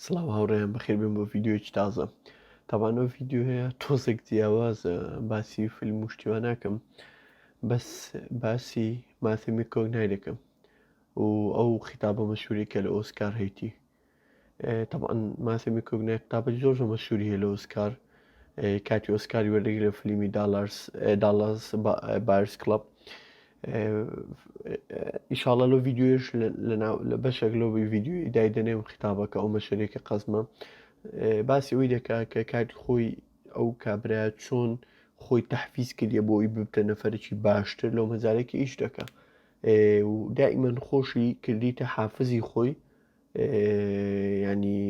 سڵاو هاوڕێیان بەخێر بێن بۆ ڤیددیوەکی تازە تاوان ئەو ڤیددیوهەیە تۆزێک جیاوازە باسی فیلم و شتیوان ناکەم بەس باسی ماسیمی کۆک نایدەکەم و ئەو خیتابە مەشوری کە لە ئۆسکار هەیتی تاوان ماسیمی کۆک نای قتابە زۆر زۆر مەشوری هەیە لە ئۆسکار کاتی ئۆسکاری وەردەگری لە فلیمی داڵارس داڵاس بارس کلب ئیشاڵە لۆ ڤیددیوش لە بەشێک لۆ ڤیددیوی دایدەنێم خیتابەکە ئەو مەشەرێکە قەزمە باسی ئەوی دەکا کە کاتی خۆی ئەو کابرا چۆن خۆی تحفیز کردە بۆی ببتە نەفرەکی باشتر لەو مەزارێکی ئیش دەکە دائیمەن خۆشی کردیتە حافزی خۆی ینی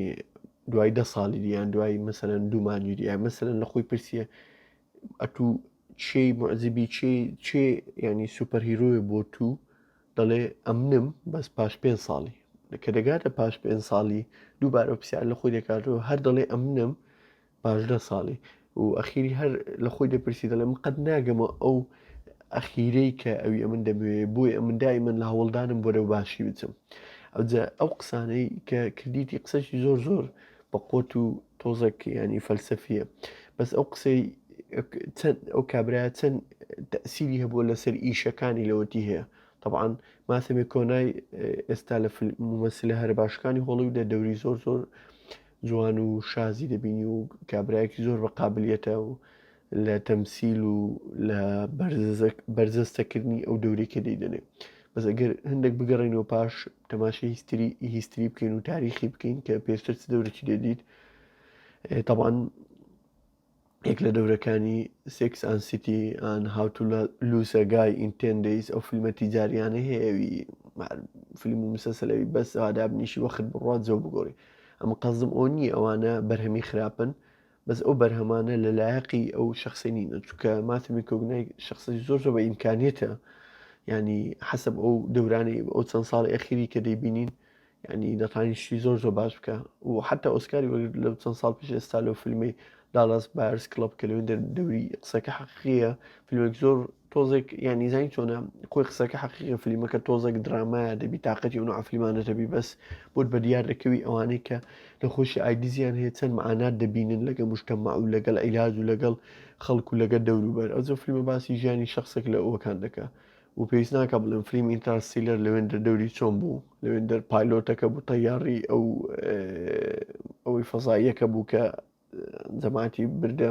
دوای دە ساڵی دیان دوای مەسەرەن دوومانی دیە مەسەرەن لە خۆی پرسیە ئەتوو چی معجبی چی چی یعنی سوپەر هیرۆیە بۆ تو دەڵێ ئەمنم بەس پاش پێ ساڵی کە دەگاتە پاش پێ ساڵی دووبارە پرسیار لە خۆی دەکاتەوە هەر دەڵێ ئەمنم پاشدە ساڵی و ئەخیری هەر لە خۆی دەپرسی دەڵێ من قەت ناگەمە ئەو ئەخیرەی کە ئەوی ئەمن دەبێ بۆی ئەمن دای من لە هەوڵدانم بۆرە باشی بچم ئەوجا ئەو قسانەی کە کردیتی قسەشی زۆر زۆر بە قۆت و تۆزەک ینی فەلسەفیە بەس ئەو قسەی چەند ئەو کابراە چەند تەسیری هەبووە لەسەر ئیشەکانی لەوەتی هەیە طبعاان ماسەێ کۆنای ئێستا لە ممەسلە هەر باشەکانی هۆڵی و دە دەوری زۆر زۆر جوان و شازی دەبینی و کابراایکی زۆر بە قابلیەتە و لە تەمسیل و لە بەرجەستەکردنی ئەو دەورەی کە دەیدەنێ بەس ئەگەر هەندێک بگەڕێنەوە پاش تەماشی هیستری هیستری بکەین و تاریخی بکەین کە پێشتر چ دەورەکی دەدیت تەبان یەک لە دەورەکانی سکس ئان سیتی ئان هاوتو لوسەگای ئینتندیس ئەو فیلمە تیجاریانە هەیەوی فیلم و مسەسەلەوی بەس ئادابنیشی وەخت بڕات زۆ بگۆڕی ئەمە قەزم ئەو نییە ئەوانە بەرهەمی خراپن بەس ئەو بەرهەمانە لە لایەقی ئەو شخصە نینە چکە ماتی میکۆگنای شخصی زۆر زۆر بە ئیمکانیتە ینی حەسب ئەو دەورانی ئەو چەند ساڵ ئەخیری کە دەیبینین ینی دەتانیشتی زۆر زۆر باش بکە و حتا ئۆسکاری وەگر لە چەند ساڵ پیش ئێستا لەو فیلمی داڵاس بارس کلب کە لەوێن دەوری قسەکە حەقیە فیلمێک زۆر تۆزێک یانی زین چۆنە خۆی قسەکە حەقیقی فلیمەکە تۆزێک درامایە دەبی تااقەتی ئەو عفلیمانە دەبی بەس بۆت بە دیار دەکەوی ئەوانەی کە نەخۆشی ئایدزیان هەیە چەند معانات دەبینن لەگە مشتەما و لەگەڵ عیلاج و لەگەڵ خەڵک و لەگە دەوروبەر ئەوزە فلیمە باسی ژیانی شخصێک لە ئەوەکان دەکە و پێویست ناکە بڵێن فلیم ئینتراسیلەر لەوێن دەردەوری چۆن بوو لەوێن دەر پایلۆتەکە بوو تەیاری ئەو ئەوەی فەزاییەکە بوو کە جەماتی بردە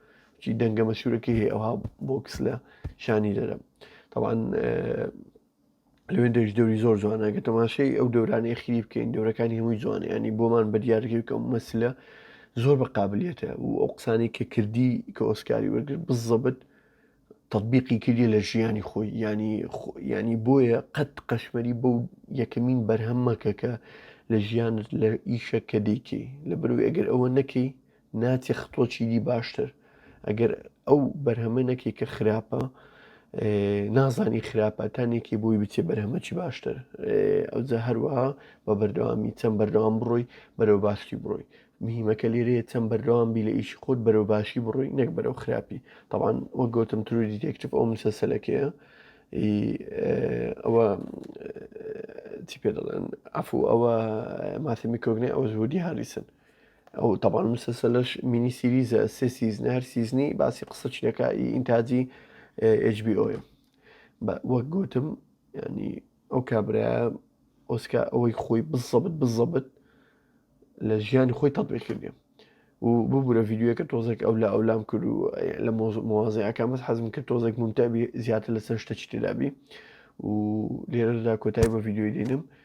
چی دەنگە مەشورەکەی هەیە ئەوها بۆکس لە شانی دەرە تاوان لەوێ دەش دەوری زۆر جوانە گە تەماشەی ئەو دەورانی خیری بکەین دەورەکانی هەمووی جوانە ینی بۆمان بە دیارەکە بکەم مەسلە زۆر بە قابلیەتە و ئەو قسانی کە کردی کە ئۆسکاری وەرگر بزەبت تطببیقی کردی لە ژیانی خۆی ینی ینی بۆیە قەت قەشمەری بەو یەکەمین بەرهەممەکە کە لە ژیانت لە ئیشە کە دەیکەی لە بەروی ئەگەر ئەوە نەکەی ناتیخ تۆ چیدی باشتر ئەگەر ئەو بەرهەمە نەکەی کە خراپە نازانی خراپە تا نێکی بۆی بچێ بەرهەمەکی باشتر ئەوجا هەروەها بە بەردەوامی چەند بەردەوام بڕۆی بەرەو باشی بڕۆی مهمەکە لێرەیە چەند بەردەوام بی لە ئیشی خۆت بەرەو باشی بڕۆی نەک بەرەو خراپی تاوان وە گەوتم تروری دێکتف ئەو مسەسەلەکەیە ئەوە چی پێ دەڵێن ئەفو ئەوە ماسیمی کۆگنێ ئەوە زودی هاریسن ئەو تەبان مسەسە لەش مینی سیریزە سێ سیزن هەر سیزنی باسی قسە چینەکە ئینتاجی HBO وەک گوتم ینی ئەو کابرا ئۆسکا ئەوەی خۆی بزەبت بزەبت لە ژیانی خۆی تەبێ کردێ و ببوورە یددیوەکە تۆزێک ئەو لە ئەولام کرد و لە مۆزیەکان بەس حەزم کرد تۆزێک ممتەبی زیاتر لەسەر شتە چتێدابی و لێرەدا کۆتای بە یددیوی دێنم